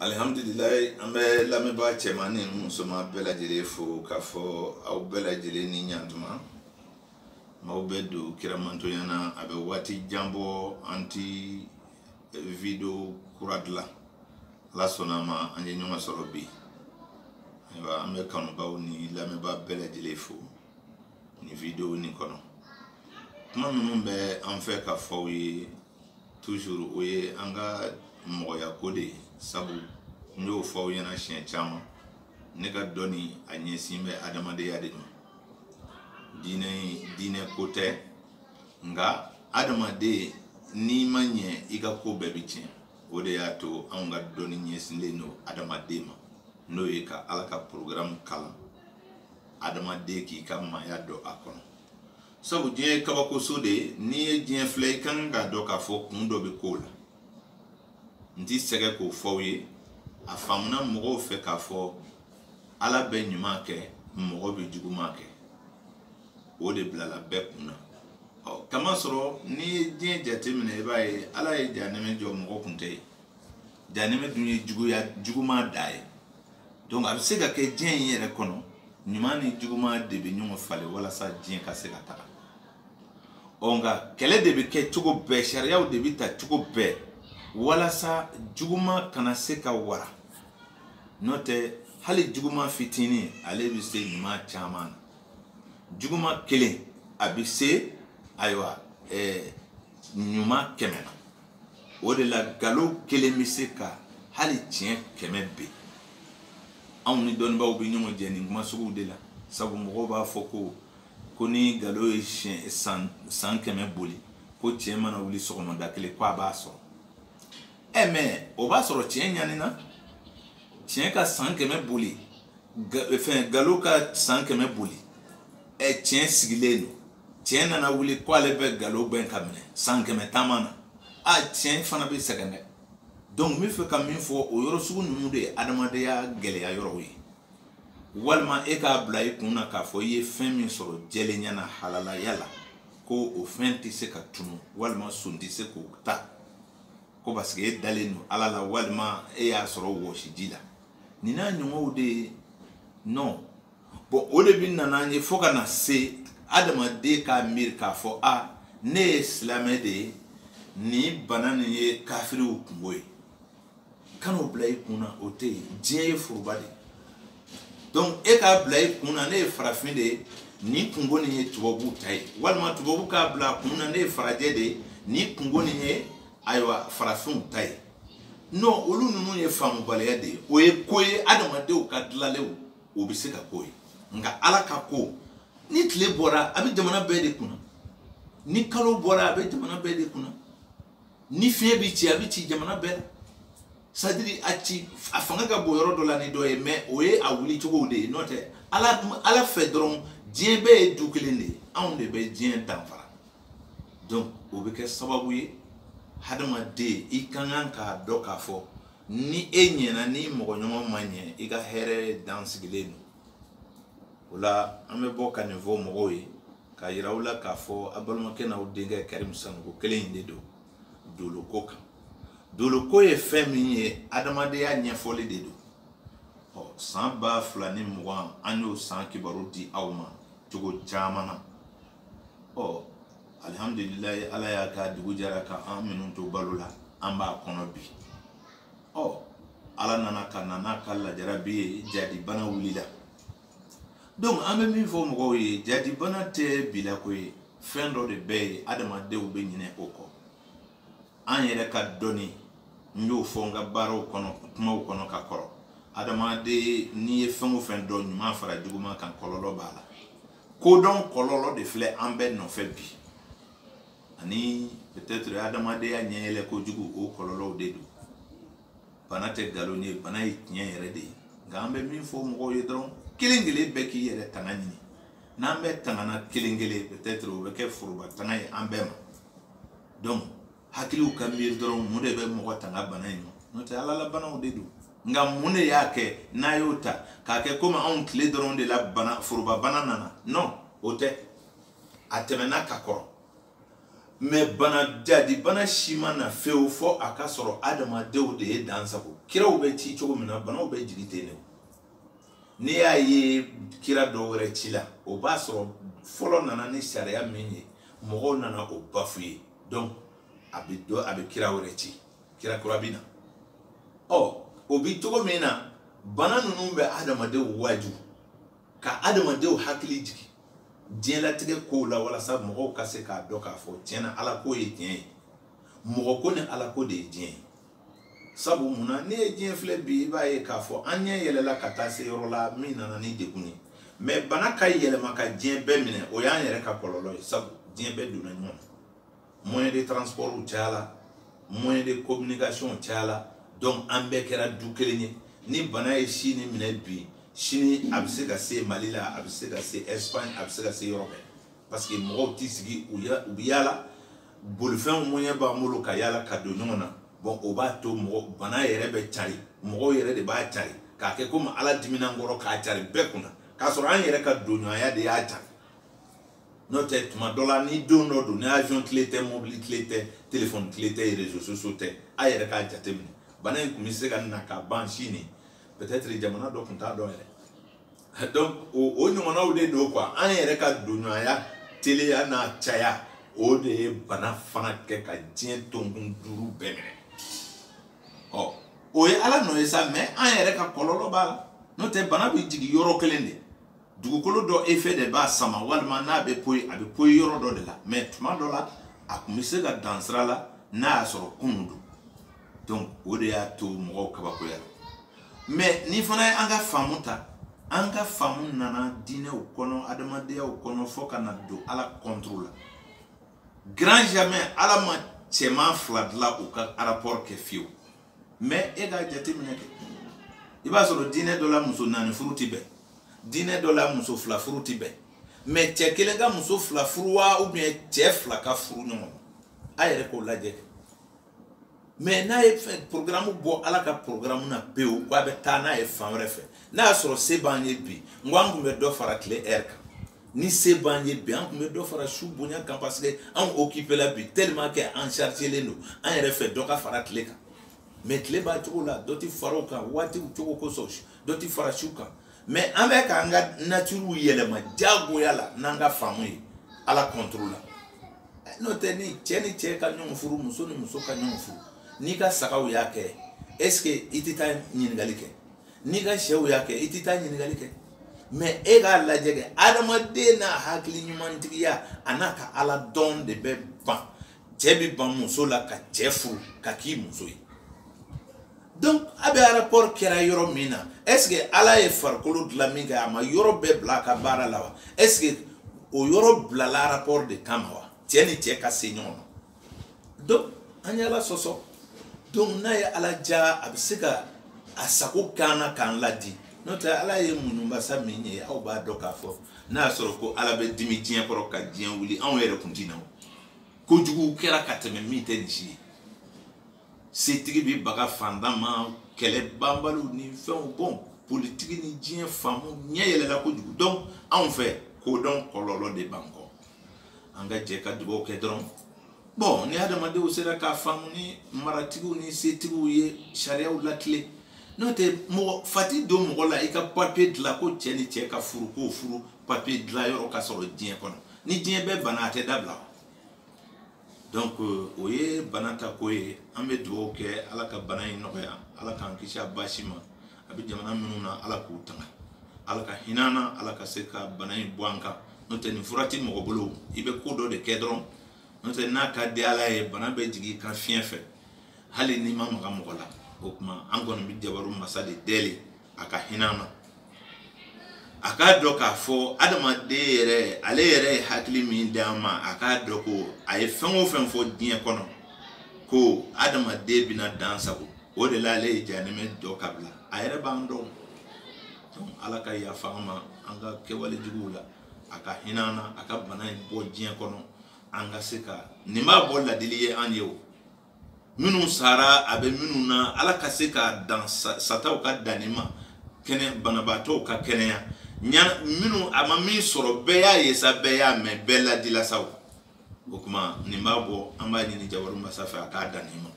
alihamdulilayi an bɛ lamɛnbaa cɛman ni musoman bɛɛ lajɛlen fo k'a fɔ aw bɛɛ lajɛlen ni ɲantuma maaw bɛ don kiramantonya na a bɛ waati jan bɔ an ti video kura dilan ala sɔnna a ma an ye ɲɔgɔn sɔrɔ bi ayiwa an bɛ kanubaaw ni lamɛnbaa bɛɛ lajɛlen fo nin video nin kɔnɔ kuma minnu bɛ an fɛ ka fɔ aw ye toujours o ye an ka mɔgɔya ko de ye sabu n y'o fɔ aw ɲɛna siɲɛ caman ne ka dɔnni a ɲɛsin bɛ adamadenya de ma diinɛ diinɛ ko tɛ nka adamaden n'i ma ɲɛ i ka ko bɛɛ bɛ tiɲɛ o de y'a to anw ka dɔnni ɲɛsinlen don adamaden ma n'o ye ka ala ka porogaramu kalan adamaden k'i ka maaya dɔn a kɔnɔ sabu diɲɛ ye kabakoso de ye n'i ye diɲɛ filɛ i ka kan k'a dɔn k'a fɔ kun dɔ bɛ kow la n ti sɛgɛn k'o fɔ aw ye a faamuna mɔgɔw fɛ k'a fɔ ala bɛ ɲuman kɛ mɔgɔ bɛ juguman kɛ o de bilala bɛɛ kun na ɔ kamasɔrɔ n'i ye diɲɛ jateminɛ i b'a ye ala ye jahanɛmɛ jɔ mɔgɔ kun tɛ yen jahanɛmɛ dun ye juguman dan ye donc a bɛ se ka kɛ diɲɛ in yɛrɛ kɔnɔ ɲuman ni juguman de bɛ ɲɔgɔn falen walasa diɲɛ ka se ka taga ɔ nka kɛlɛ de bɛ kɛ cogo bɛɛ sariyaw de bɛ ta cogo bɛɛ walasa juguman kana se ka wara n'o tɛ hali juguman fitinin ale bɛ se ɲuman caman na juguman kelen a bɛ se ayiwa ɛɛ ɲuman kɛmɛ na o de la galo kelen bɛ se ka hali tiɲɛ kɛmɛ ben anw ni dɔnnibaaw bɛ ɲɔgɔn jɛ nin kuma suguw de la sabu mɔgɔw b'a fɔ ko ko ni galo ye siɲɛ san kɛmɛ boli ko tiɲɛ mana wuli sɔgɔmada kelen ko a b'a sɔrɔ ɛ mais o b'a sɔrɔ tiɲɛ ɲanina tiɲɛ ka san kɛmɛ boli fɛn galo ka san kɛmɛ boli ɛ tiɲɛ sigilen don tiɲɛ nana wuli ko ale bɛ galo gbɛn k'a minɛ san kɛmɛ taama na a tiɲɛ fana bɛ sɛgɛn dɛ donc n bɛ fɛ ka min fɔ o yɔrɔ sugu ninnu de ye adamadenya gɛlɛya yɔrɔw ye walima e k'a bila i kun na k'a fɔ i ye fɛn min sɔrɔ jɛlenya na halalaya la ko o fɛn tɛ se ka tunu walima son tɛ se k'o ta ko parce que e dalen don ala la walima e y'a sɔrɔ wɔsiji la nin n'a ɲɔgɔnw de ye non bon o de bɛ na n'an ye fo ka na se adamaden k'a miiri k'a fɔ a ne ye silamɛ de ye nin bana nin ye kafiriw kungo ye kan'o bila i kun na o tɛ yen diɲɛ ye foroba de ye donc e k'a bila i kun na ne ye farafin de ye nin kungo nin ye tubabuw ta ye walima tubabu k'a bila a kun na ne ye farajɛ de ye nin kungo nin ye ayiwa farafinw ta ye non olu ninnu ye faamubaliya de ye o ye ko ye adamadenw ka dilanlenw o bɛ se ka k'o ye nka ala ka ko ni tile bɔra a bɛ jamana bɛɛ de kunna ni kalo bɔra a bɛ jamana bɛɛ de kunna ni fiɲɛ bɛ ci a bɛ ci jamana bɛɛ la c'est-à-dire a ci a fanga ka bon yɔrɔ dɔ la ni dɔ ye mais o ye a wuli cogow de ye n'o tɛ ala ala fɛ dɔrɔn diɲɛ bɛɛ ye du kelen de ye anw de bɛ diɲɛ danfara donc o bɛ kɛ sababu ye hadamaden i ka kan k'a dɔn k'a fɔ ni e ɲɛna n'i mɔgɔɲɔgɔn ma ɲɛ i ka hɛrɛ dan sigilen don o la an bɛ bɔ ka nin fɔ mɔgɔw ye ka yira u la k'a fɔ a balimakɛ n'aw denkɛ karimu sanogo kelen in de don doloko kan doloko ye fɛn min ye adamadenya ɲɛfɔli de don ɔ san ba fila ni mugan an y'o san kibaru di aw ma cogo caman na ɔ alihamudulilayi ala y'a kɛ dugu jɛra ka an minnu to balo la an b'a kɔnɔ bi ɔ ala nana ka na n'a ka lajarabi ye jahadi bana wulila donc an bɛ min fɔ mɔgɔw ye jahadi bana tɛ bilako ye fɛn dɔ de bɛ yen adamadenw bɛ ɲinɛ o kɔ an yɛrɛ ka dɔnni n y'o fɔ n ka baaraw kɔnɔ kumaw kɔnɔ ka kɔrɔ adamaden n'i ye fɛn o fɛn dɔn ɲuman fara juguman kan kɔlɔlɔ b'a la kodɔn kɔlɔlɔ de filɛ an bɛɛ nɔfɛ bi ani peut-être adamadenya ɲɛyɛlɛ kojugu o kɔlɔlɔw de don bana tɛ nkalon ye bana ye tiɲɛ yɛrɛ de ye nka an bɛ min fɔ mɔgɔw ye dɔrɔn kelen kelen bɛɛ k'i yɛrɛ tanga ɲini n'an bɛɛ tangana kelen kelen peut-être o bɛ kɛ foroba tanga ye an bɛɛ ma donc hakiliw ka miiri dɔrɔn mun de bɛ mɔgɔ tanga bana in ma n'o tɛ ala la banaw de don nka mun de y'a kɛ n'a y'o ta k'a kɛ komi anw tile dɔrɔn de la bana foroba bana nana non o tɛ a tɛmɛna ka kɔrɔ mais bana jahadi bana si ma na fewu fo a k'a sɔrɔ adamadenw de ye dan sagon kiraw bɛ ci cogo min na banaw bɛ jigi ten de n'i y'a ye kira dɔ wɛrɛ cila o b'a sɔrɔ fɔlɔ nana ni sariya min ye mɔgɔw nana o bafu ye donc a bɛ dɔ a bɛ kira wɛrɛ ci kira kura bɛ na ɔ o bi cogo min na bana ninnu bɛ adamadenw waaju ka adamadenw hakili jigin diɲɛlatigɛ kow la walasa mɔgɔw ka se k'a dɔn k'a fɔ tiɲɛ na ala ko ye tiɲɛ ye mɔgɔ ko ni ala ko de ye diɲɛ ye sabu mun na ne ye diɲɛ filɛ bi i b'a ye k'a fɔ an ɲɛ yɛlɛla ka taa se yɔrɔ la min nana ni degun ye mais bana ka yɛlɛma ka diɲɛ bɛɛ minɛ o y'an yɛrɛ ka kɔlɔlɔ ye sabu diɲɛ bɛɛ donna ɲɔgɔn na moyen de transport cayala moyen de communication cayala donc an bɛɛ kɛra du kelen ye ni bana ye chine minɛ bi sini a bɛ se ka se mali la a bɛ se ka se espagne a bɛ se ka se yɔrɔ bɛɛ parce que mɔgɔw t'i sigi u bɛ yaala bolifɛnw moyen b'an bolo ka yaala ka don ɲɔgɔn na bon o b'a to mɔgɔ bana yɛrɛ bɛ cari mɔgɔw yɛrɛ de b'a cari k'a kɛ komi ala dimina an kɔrɔ k'a cari bɛɛ kunna k'a sɔrɔ an yɛrɛ ka donɲɔgɔnya de y'a cari n'o tɛ tuma dɔ la ni don dɔ don ni avion tile tɛ mobili tile tɛ telefɔni tile tɛ réseaux sociaux tɛ a yɛrɛ k'a jateminɛ bana in tun bɛ se ka na ka ban chine peut-être jamana dɔ tun t'a dɔn yɛrɛ donc o ɲɔgɔnnaw de don quoi an yɛrɛ ka donɲɔgɔnya teliya n'a caya o de ye bana fana kɛ ka diɲɛ tonkun duuru bɛɛ minɛ ɔ o ye ala nɔ ye sa mais an yɛrɛ ka kɔlɔlɔ b'a la n'o tɛ bana bɛ jigin yɔrɔ kelen de dugukolo dɔ effet de b'a sama walima n'a bɛ poyi a bɛ poyi yɔrɔ dɔ de la mais tuma dɔ la a kun bɛ se ka dan sira la n'a y'a sɔrɔ kunun don donc o de y'a to mɔgɔw kabakoyala mais ni fana ye an ka faamu ta an ka faamu nana diinɛw kɔnɔ adamadenyaw kɔnɔ fo ka na don ala contre la grand jamais ala ma cɛman fila dilan u ka rapport kɛ fiyewu mais e k'a jateminɛ kɛ i b'a sɔrɔ diinɛ dɔ la muso naani furu ti bɛn diinɛ dɔ la muso fila furu ti bɛn mais cɛ kelen ka muso fila furu wa ou bien cɛ fila ka furu ɲɔgɔn ma a yɛrɛ k'o lajɛ kɛ mais n'a ye programme bɔ ala ka programme na pewu ko a bɛ taa n'a ye fan wɛrɛ fɛ n'a y'a sɔrɔ se b'an ye bi n ko an tun bɛ dɔ fara tile heure kan ni se b'an ye bi an tun bɛ dɔ fara su bonya kan parce que anw occupé la bi tellement que an chargelen don an yɛrɛ fɛ dɔ ka fara tile kan mais tile b'a cogo la dɔ ti fara o kan waatiw cogo kosɔn dɔ ti fara su kan mais an bɛ k'an ka nature yɛlɛma jagoya la n'an ka faamu ye ala contre la n'o tɛ ni cɛ ni cɛ ka ɲɔgɔn furu muso ni muso ka ɲɔgɔn furu n'i ka sagaw y'a kɛ est ce que i tɛ taa ɲininkali kɛ n'i ka shɛw y'a kɛ i tɛ taa ɲininkali kɛ mais e k'a lajɛ kɛ adamaden n'a hakili ɲumantigiya a n'a ka ala dɔn de bɛ ban cɛ bɛ ban muso la ka cɛ furu ka k'i muso ye donc a bɛ rapport kɛra yɔrɔ min na est ce que ala ye farikolo dilan min kɛ a ma yɔrɔ bɛɛ bila a ka baara la wa est ce que o yɔrɔ bilala rapport de kama wa cɛ ni cɛ ka se ɲɔgɔn ma donc an ye ala sɔsɔ donc n'a ye ala diya a bɛ se ka a sago k'an na k'an ladi n'o tɛ ala ye muɲu masa min ye aw b'a dɔn k'a fɔ n'a y'a sɔrɔ ko ala bɛ dimi diɲɛ kɔrɔ ka diɲɛ wuli anw yɛrɛ kun ti na o kojugu kɛra ka tɛmɛ min tɛ nin si ye setigi bɛ baga fantan ma kɛlɛ banbaliw ni fɛnw bon politiki ni diɲɛ faamu ɲɛ yɛlɛla kojugu donc anw fɛ kodɔn kɔlɔlɔ de b'an kɔ an ka jɛ ka dugawu kɛ dɔrɔn bon ni adamadenw sera k'a faamu ni maratigiw ni setigiw ye sariyaw latilen n'o tɛ mɔgɔ fa ti don mɔgɔ la i ka papiye dilan ko cɛ ni cɛ ka furu k'o furu papiye dilan yɔrɔ ka sɔrɔ diɲɛ kɔnɔ ni diɲɛ bɛɛ bana a tɛ dabila donc euh, o ye bana ta ko ye an bɛ dugawu kɛ ala ka bana in nɔgɔya ala k'an kisi a baasi ma a bɛ jamana minnu na ala k'u tanga ala ka hinɛ an na ala ka se ka bana in bɔ an kan n'o tɛ nin fura tɛ mɔgɔ bolo i bɛ ko dɔ de kɛ dɔrɔn n'o tɛ n'a ka di ala ye bana bɛ jigin i kan fiɲɛ fɛ hali n'i ma maga mɔgɔ la o tuma an kɔni bɛ jabaru masa de deli a ka hinɛ an na a k'a dɔn k'a fɔ adamaden yɛrɛ ale yɛrɛ ye hakili min di an ma a k'a dɔn ko a ye fɛn o fɛn fɔ diɲɛ kɔnɔ ko adamaden bɛna dan sagon o de la ale ye jahanama jɔ ka bila a yɛrɛ b'an dɔn donc ala ka yafa an ma an ka kɛwale juguw la a ka hinɛ an na a ka bana in bɔ diɲɛ kɔnɔ an ka se ka nin b'a bɔ ladili ye an ye o minnu sara a bɛ minnu na ala ka se ka dan sataw ka dan nin ma kɛnɛ banabaatɔw ka kɛnɛya ɲa minnu a ma min sɔrɔ bɛɛ y'a ye sa bɛɛ y'a mɛn bɛɛ ladila sa o o tuma nin b'a bɔ an b'a ɲini jabaru masa fɛ a k'a dan nin ma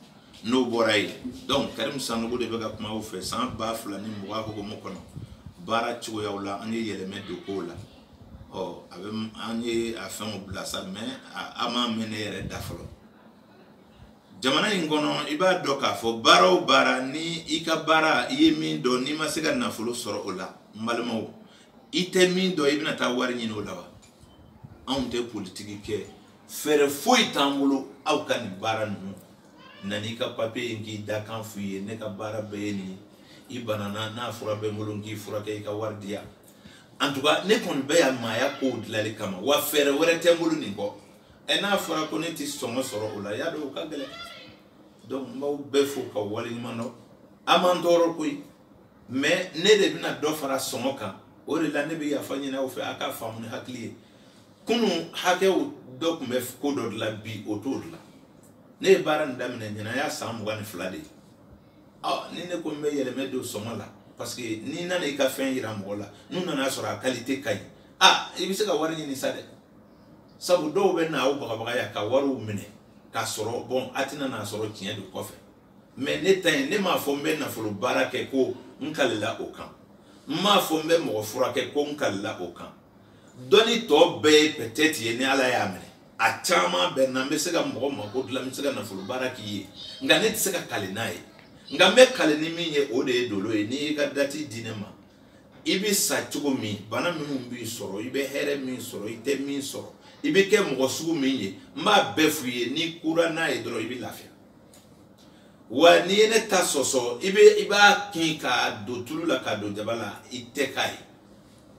n'o bɔra yen donc karimu sanogo de bɛ ka kuma aw fɛ san ba fila ni mugan hukumu kɔnɔ baara cogoyaw la an ye yɛlɛmɛ don kow la ɔ a bɛ an ye a fɛnw bila sa mais a ma mɛn ne yɛrɛ da fɔlɔ jamana in kɔnɔ i b'a dɔn k'a fɔ baara o baara ni i ka baara i ye min dɔn n'i ma se ka nafolo sɔrɔ o la n balimaw i tɛ min dɔn i bɛna taa wari ɲini o la wa anw tɛ politiki kɛ fɛɛrɛ foyi t'an bolo aw ka nin baara ninnu na n'i ka papiye ye k'i dakan f'u ye ne ka baara bɛɛ ye nin ye i banana n'a fura bɛ n bolo n k'i furakɛ i ka wari di yan en tout cas ne kɔni bɛ yan maaya kow dilanli kama wa fɛɛrɛ wɛrɛ tɛ n bolo nin kɔ ɛ n'a fɔra ko ne ti sɔngɔ sɔrɔ o la y'a dɔn o ka gɛlɛn donc n b'aw bɛɛ fo ka waleɲuman dɔn a m'an tɔɔrɔ koyi mais ne de bɛna dɔ fara sɔngɔ kan o de la ne bɛ yafa ɲini aw fɛ a ka faamu ni hakili ye kunun hakɛw dɔ tun bɛ ko dɔ dilan bi o t'o dilan ne ye baara nin daminɛ ɲinan y'a san mugan ni fila de ye ɔ ni ne ko n bɛ yɛlɛmɛ don sɔngɔ la parce que n'i nana i ka fɛn yira mɔgɔ la n'u nana sɔrɔ a kalite ka ɲi a i bɛ se ka wari ɲini sa dɛ sabu dɔw bɛ na aw bagabagaya ka wariw minɛ k'a sɔrɔ bon a tɛna n'a sɔrɔ tiɲɛ don kɔfɛ mais ne ta in ne m'a fɔ n bɛ nafolo baara kɛ ko n kalila o kan n m'a fɔ n bɛ mɔgɔ furakɛ ko n kalila o kan dɔnni tɔ bɛɛ ye peut-être ye ni ala y'a minɛ a caman bɛ na n bɛ se ka mɔgɔ mako dilan n bɛ se ka nafolo baara k'i ye nka ne tɛ se ka kali n'a ye nka n bɛ kali ni min ye o de ye dolo ye n'i y'i ka dati di ne ma i bɛ sa cogo min bana minnu b'i sɔrɔ i bɛ hɛrɛ min sɔrɔ i tɛ min sɔrɔ i bɛ kɛ mɔgɔ sugu min ye n b'a bɛɛ f'u ye n'i kura n'a ye dɔrɔn i bɛ lafiya wa n'i ye ne ta sɔsɔ i bɛ i b'a kin k'a don tulu la k'a don jaba la i tɛ k'a ye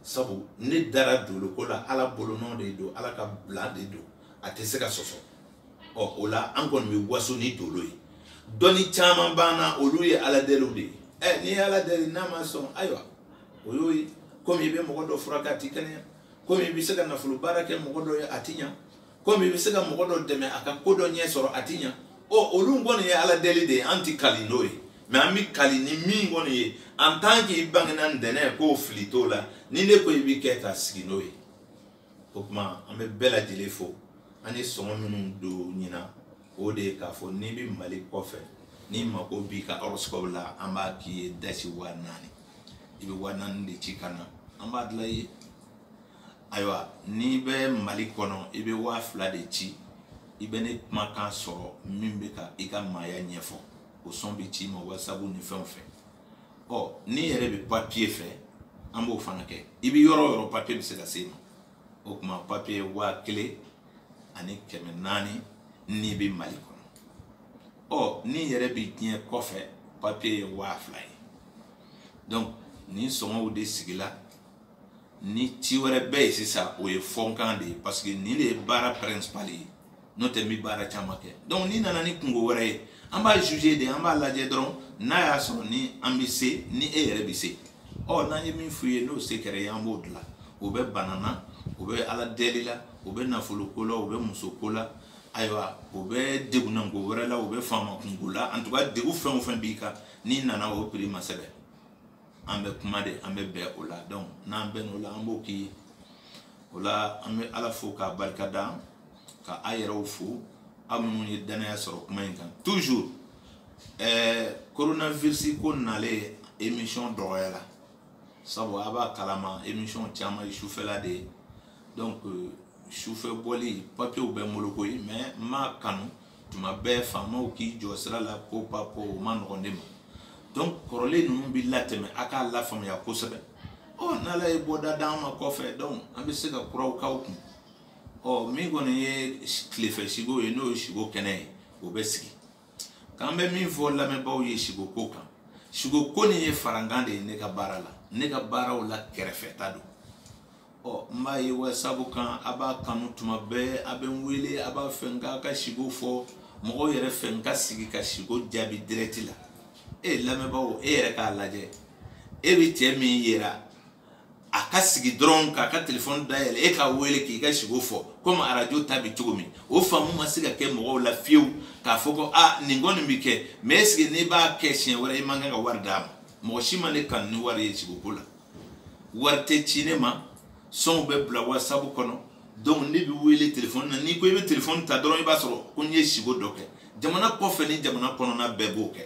sabu ne dara dolo ko la ala bolonɔ de don ala ka bila de don a tɛ se ka sɔsɔ ɔ o la an kɔni bɛ waso ni dolo ye dɔnni caman b'an na olu ye ala deliw de ye ɛ n'i ye ala deli n'a ma sɔn ayiwa o y'o ye komi i bɛ mɔgɔ dɔ furakɛ a ti kɛnɛya komi i bɛ se ka nafolo baara kɛ mɔgɔ dɔ ye a ti ɲa komi i bɛ se ka mɔgɔ dɔ dɛmɛ a ka ko dɔ ɲɛ sɔrɔ a ti ɲa ɔ olu kɔni ye ala deli de ye an ti kali n'o ye mais an bɛ kali ni min kɔni ye en tant que i bangena ntɛnɛn ko fili t'o la ni ne ko i bɛ kɛ ka sigi n'o ye o tuma an bɛ bɛɛ lajɛlen fo an ye sɔngɔ minnu don ɲinan o de ye k'a fɔ n'i bɛ mali kɔfɛ n'i mako b'i ka horoscope la an b'a k'i ye dasi waa naani i bɛ waa naani de ci ka na an b'a dilan i ye ayiwa n'i bɛ mali kɔnɔ i bɛ waa fila de ci i bɛ ne kumakan sɔrɔ min bɛ ka i ka maaya ɲɛfɔ o son bɛ ci i ma whatsapp ni fɛnw fɛ ɔ n'i yɛrɛ bɛ papiye fɛ an b'o fana kɛ i bɛ yɔrɔ o yɔrɔ papiye bɛ se ka s'e ma o tuma papiye waa kelen ani kɛmɛ naani n'i bɛ mali kɔnɔ ɔ n'i yɛrɛ bɛ diɲɛ kɔfɛ papiye ye waa fila ye donc nin sɔngɔw de sigila ni ci wɛrɛ bɛ yen sisan o ye fɔnkan de ye parce que nin de ye baara principal ye n'o tɛ n bɛ baara caman kɛ donc n'i nana ni kunko wɛrɛ ye an b'a juger de an b'a lajɛ dɔrɔn n'a y'a sɔrɔ ni an bɛ se ni e yɛrɛ bɛ se ɔ n'an ye min f'u ye n'o se kɛr'i ye an b'o dilan o bɛ bana na o bɛ ala deli la o bɛ nafolo ko la o bɛ muso ko la ayiwa o bɛ degunnanko wɛrɛ la o bɛ faama kunko la en tout cas degun fɛn o fɛn b'i kan n'i nana o prix ma sɛbɛn an bɛ kuma de an bɛ bɛn o la donc n'an bɛn o la an b'o k'i ye o la an bɛ ala fo k'a barika da ka a yɛrɛw fo aw minnu ye danaya sɔrɔ kuma in kan toujours ɛɛ coronavirus ko nalen émission dɔgɔyara sabu a b'a kalama émission caman ye sufɛla de ye donc sufɛ bɔli papiyew bɛ n bolo koyi mais n m'a kanu tuma bɛɛ faamaw k'i jɔ sira la ko pa ko o man nɔgɔn ne ma donc kɔrɔlen ninnu bɛ latɛmɛ a k'a lafaamuya kosɛbɛ ɔ n'ala ye bɔda d'an ma kɔfɛ donc an bɛ se ka kuraw k'aw kun ɔ min kɔni ye tilefɛ siko ye n'o ye siko kɛnɛ ye o bɛ sigi k'an bɛ min fɔ lamɛnbaaw ye siko ko kan siko ko nin ye farankan de ye ne ka baara la ne ka baaraw la kɛrɛfɛta don ɔ n b'a ye wasabu kan a b'a kanu tuma bɛɛ a bɛ n wele a b'a fɛ n k'a ka siko fɔ mɔgɔw yɛrɛ fɛ n ka sigi ka siko jaabi dirɛti la e lamɛnbaaw e yɛrɛ k'a lajɛ e bɛ cɛ min yera a ka sigi dɔrɔn k'a ka telefɔni dayɛlɛ e k'a wele k'i ka siko fɔ komi arajo ta bɛ cogo min o faamu ma se ka kɛ mɔgɔw la fiyewu k'a fɔ ko a nin kɔni bɛ kɛ mɛ esike n'i b'a kɛ siɲɛ wɛrɛ i man kan ka wari d'a ma mɔgɔ si ma ne kanu ni wari ye siko ko la wari tɛ ci ne ma sɔnw bɛ bila wasabu kɔnɔ donc ne bɛ wele telefɔni na n'i ko i bɛ telefɔni ta dɔrɔn i b'a sɔrɔ ko n ye siko dɔ kɛ jamana kɔfɛ ni jamana kɔnɔna bɛɛ b'o kɛ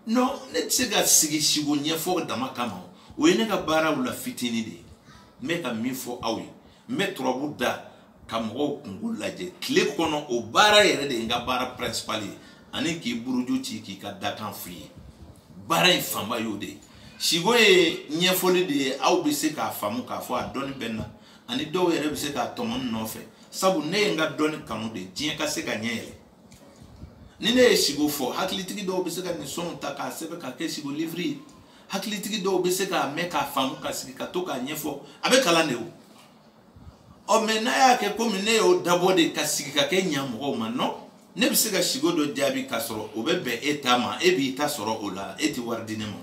non ne tɛ se ka sigi siko ɲɛfɔ dama kama o ye ne ka baaraw la fitini de ye n bɛ ka min fɔ aw ye n bɛ turabu da ka mɔgɔw kunko lajɛ tile kɔnɔ o baara yɛrɛ de ye n ka baara principal ye ani k'i buruju ci k'i ka dakan f'i ye baara in fanba y'o de ye siko ye ɲɛfɔli de ye aw bɛ se k'a faamu k'a fɔ a dɔnni bɛ n na ani dɔw yɛrɛ bɛ se k'a tɔmɔ ne nɔfɛ sabu ne ye n ka dɔnni kanu de diɲɛ ka se ka ɲɛ yɛlɛ ni ne ye siko fɔ hakilitigi dɔw bɛ se ka nin sɔnw ta k'a sɛbɛn k'a kɛ siko liviri ye hakilitigi dɔw bɛ se k'a mɛn k'a faamu ka sigi ka to k'a ɲɛfɔ a bɛ kalan de o ɔ mɛ n'a y'a kɛ komi ne y'o dabɔ de ka sigi ka kɛ ɲa mɔgɔw ma non ne bɛ se ka sigo dɔ jaabi k'a sɔrɔ o bɛ bɛn e ta ma e b'i ta sɔrɔ o la e tɛ wari di ne ma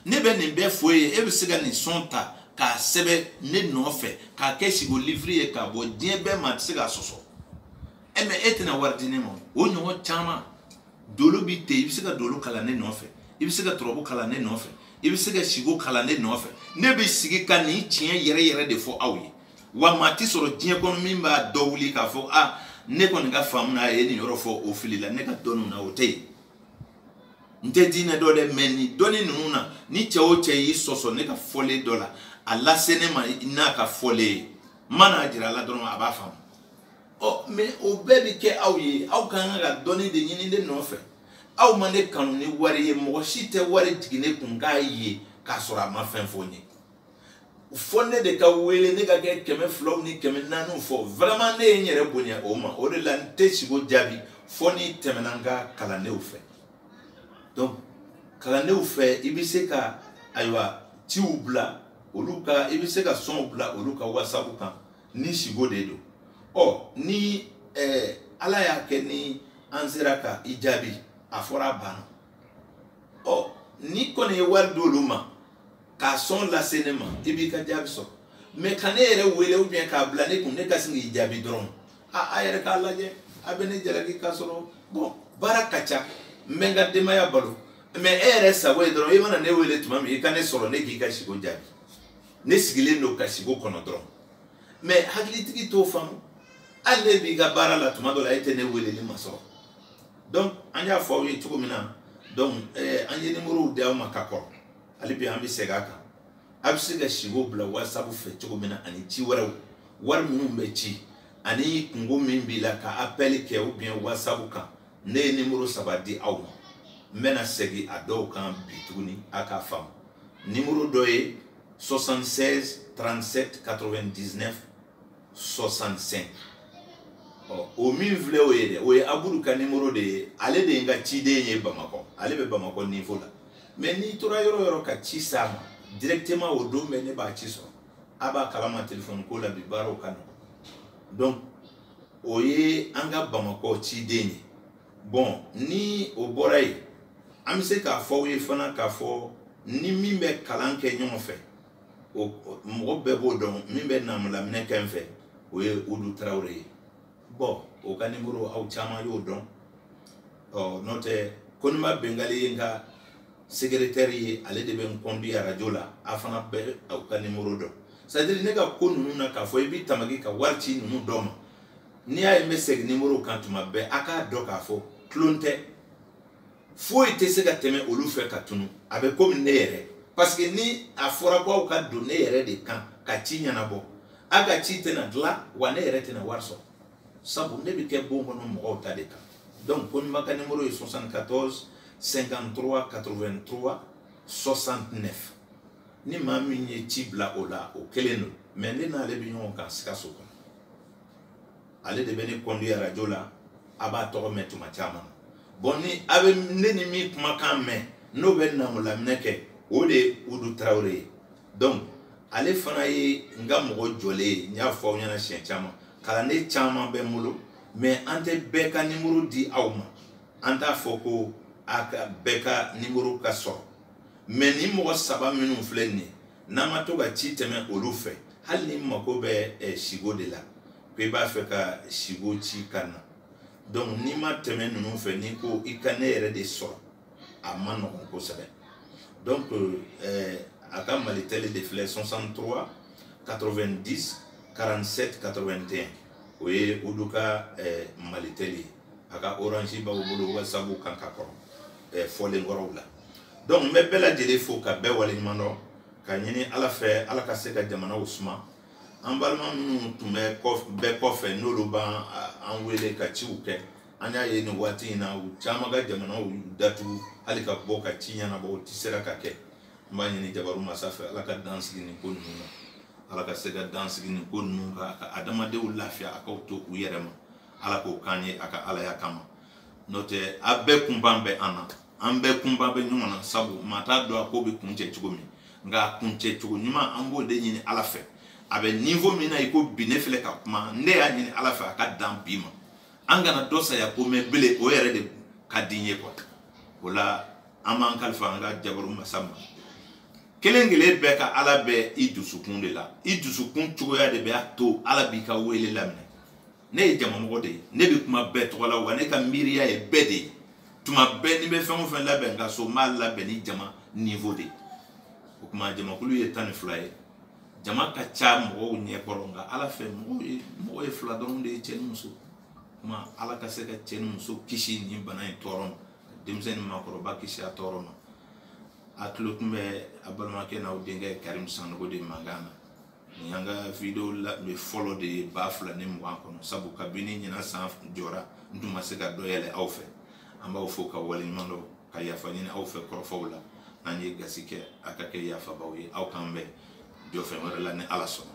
ne bɛ nin bɛɛ fɔ e ye e bɛ se ka nin sɔn ta k'a sɛbɛn ne nɔfɛ k'a kɛ sigo liviri ye k'a bɔ diɲɛ bɛɛ maa tɛ se k'a sɔsɔ e mɛ e tɛna wari di ne ma o ɲɔgɔn caman dolo bi ten i bɛ se ka dolo kalan ne nɔfɛ i bɛ se ka turabu kalan ne nɔfɛ i bɛ se ka siko kalan ne nɔfɛ ne bɛ sigi ka nin tiɲɛ yɛrɛ yɛrɛ de fɔ aw ye wa maa ti sɔrɔ diɲɛ kɔnɔ min b'a da wuli k'a fɔ a ne kɔni ka faamu na a ye nin yɔrɔ fɔ o filila ne ka dɔnniw na o tɛ yen n tɛ diinɛ dɔn dɛ mɛ nin dɔnni ninnu na ni cɛ o cɛ y'i sɔsɔ ne ka fɔlen dɔ la a lase ne ma n'a ka fɔlen ye n mana jira a la dɔrɔn a b'a faamu ɔ mɛ o bɛɛ bɛ kɛ aw ye aw ka kan ka dɔnni de ɲini ne nɔfɛ aw ma ne kanu ni wari ye mɔgɔ si tɛ wari jigin ne kun k'a ye k'a sɔrɔ a ma fɛn fɔ n ye fɔ ne de ka wele ne ka kɛ kɛmɛ filaw ni kɛmɛ naaniw fɔ vraiment ne ye n yɛrɛ bonya o ma o de la n tɛ sigo jaabi fɔ n'i tɛmɛna n ka kalandenw fɛ donc kalandenw fɛ i bɛ se ka ayiwa ciw bila olu ka i bɛ se ka sɔnw bila olu ka whatsapp kan ni siko de don ɔ ni ɛɛ eh, ala y'a kɛ ni an sera ka i jaabi a fɔra a banna ɔ n'i kɔni ye wari d'olu ma k'a sɔn lase ne ma i b'i ka jaabi sɔrɔ mɛ ka ne yɛrɛ wele ou bien k'a bila ne kun ne ka sin k'i jaabi dɔrɔn a a yɛrɛ k'a lajɛ a bɛ ne jalaki k'a sɔrɔ bɔn baara ka ca n bɛ n ka denbaya balo mɛ e yɛrɛ sago ye dɔrɔn i mana ne wele tuma min i ka ne sɔrɔ ne k'i ka siko jaabi ne sigilen don ka siko kɔnɔ dɔrɔn mɛ hakilitigi t'o faamu hali e b'i ka baara la tuma dɔ la e tɛ ne weleli masɔrɔ donc an y'a fɔ aw ye cogo min na donc eh, an ye nimorow di aw ma ka kɔrɔ hali bi an bɛ segin a kan a bɛ se ka siko bila whatsapp fɛ cogo min na ani ci wɛrɛw wari minnu bɛ ci ani kunko min b'i la ka appel kɛ ou bien whatsapp kan ne ye nimoro saba di aw ma n bɛna segin a dɔw kan bi tuguni a k'a faamu nimoro dɔ ye 76 37 99 65 ɔ o min filɛ o ye dɛ o ye abudu ka nimoro de ye ale de ye n ka ciden ye bamakɔ ale bɛ bamakɔ nivo la mɛ n'i tora yɔrɔ yɔrɔ ka ci s'a ma directement o don bɛɛ ne b'a ci sɔrɔ a b'a kalama telefɔni ko la bi baaraw ka nɔgɔn donc o ye an ka bamakɔ ciden ye bɔn ni o bɔra yen an bɛ se k'a fɔ aw ye fana k'a fɔ n ni min bɛ kalan kɛ ɲɔgɔn fɛ o mɔgɔ bɛɛ b'o dɔn min bɛ namulaminɛ kɛ n fɛ o ye udu tarawele ye bɔn o ka nimoro aw caman y'o dɔn ɔ n'o tɛ koniba bengali ye n ka segeretɛri ye ale de bɛ n conduire arajo la a fana bɛ o ka nimoro dɔn c'est-à-dire ne ka ko ninnu na k'a fɔ i b'i tamaki ka wari ci ninnu dɔ ma n'i y'a ye n bɛ segin nimoro kan tuma bɛɛ a k'a dɔn k'a fɔ tulon tɛ foyi tɛ se ka tɛmɛ olu fɛ ka tunu a bɛ komi ne yɛrɛ parce que ni a fɔra ko aw ka don ne yɛrɛ de kan ka ci ɲɛnabɔ a ka ci tɛna dilan wa ne yɛrɛ tɛna wari sɔrɔ sabu ne bɛ kɛ bon kɔnɔ mɔgɔw ta de kan donc koniba ka nimoro ye 74 53 83 69 ni maa min ye ci bila o la o kelen don mɛ ne n'ale bɛ ɲɔgɔn kan sikaso kɔnɔ ale de bɛ ne conduire arajo la a b'a tɔgɔ mɛn tuma caman na bɔn ni a bɛ ne ni min kumakan mɛn n'o bɛ namulaminɛ kɛ o de ye udu tarawele ye donc ale fana ye n ka mɔgɔ jɔlen ye n y'a fɔ aw ɲɛna siɲɛ caman kalanden caman bɛ n bolo mɛ an tɛ bɛɛ ka nimoro di aw ma an t'a fɔ ko a ka bɛɛ ka nimoro ka sɔrɔ mais ni mɔgɔ saba minnu filɛ nin ye n'a ma to ka ci tɛmɛ olu fɛ hali n'i mako bɛ eh, sigo de la ko i b'a fɛ ka sigo ci ka na donc n'i ma tɛmɛ ninnu fɛ n'i ko i ka ne yɛrɛ de sɔrɔ a man nɔgɔn kosɛbɛ donc eh, a ka malitɛli de filɛ 63 90 47 81 o ye olu ka eh, malitɛli ye a ka orange b'aw bolo wa sabu k'an ka kɔrɔ ɛɛ fɔlen kɔrɔw la donc n bɛ bɛɛ lajɛlen fo ka bɛɛ waleɲuman dɔn ka ɲini ala fɛ ala ka se ka jamanaw suma an balima minnu tun bɛ kɔfɛ n'olu bɛ an wele ka ciw kɛ an y'a ye nin waati in na u caman ka jamanaw datugu hali ka bɔ ka ci ɲɛnabɔ u tɛ sera ka kɛ n b'a ɲini jabaru masa fɛ ala ka dan sigi nin ko ninnu na ala ka se ka dan sigi nin ko ninnu na ka adamadenw lafiya a k'u to u yɛrɛ ma ala k'o k'an ye a ka alaya kama n'o tɛ a bɛɛ kunpan bɛ an na an bɛɛ kunpan bɛ ɲɔgɔn na sabu maa t'a dɔn a ko bɛ kuncɛ cogo min nka a kuncɛ cogo ɲuman an b'o de ɲini ala fɛ a bɛ niveau min na iko bi ne filɛ ka kuma ne y'a ɲini ala fɛ a ka dan bi ma an kana dɔ saya ko mɛn belen o yɛrɛ de ka di n ye quoi o la an b'an kalifa an ka jabaru masa ma kelen kelen bɛɛ ka ala bɛ i dusukun de la i dusukun cogoya de bɛ a to ala b'i ka wele laminɛ ne ye jamamɔgɔ de ye ne bɛ kuma bɛɛ tɔgɔ la wa ne ka miiriya ye bɛɛ de ye tuma bɛɛ ni n bɛ fɛn o fɛn labɛn ka so n b'a labɛn ni jama niveau de ye o tuma jamakulu ye tan ni fila ye jama ka ca mɔgɔw ɲɛ kɔrɔ nka ala fɛ mɔgɔw ye mɔgɔ ye fila dɔrɔn de ye cɛ ni muso kuma ala ka se ka cɛ ni muso kisi nin bana in tɔɔrɔ ma ka denmisɛn ni maakɔrɔba kisi a tɔɔrɔ ma a tulo tun bɛ a balimakɛ n'aw denkɛ karim sanogo de mankan na nin y'an ka video labɛn fɔlɔ de ye ba fila ni mugan kɔnɔ sabu kabini ɲinan san jɔra n tun ma se ka dɔ yɛlɛ aw fɛ an b'aw fo ka waleɲuman dɔn ka yafa ɲini aw fɛ kɔrɔfɔw la n'an ye gasi kɛ a ka kɛ yafabaw ye aw k'an bɛn jɔfɛn wɛrɛ la ni ala sɔnna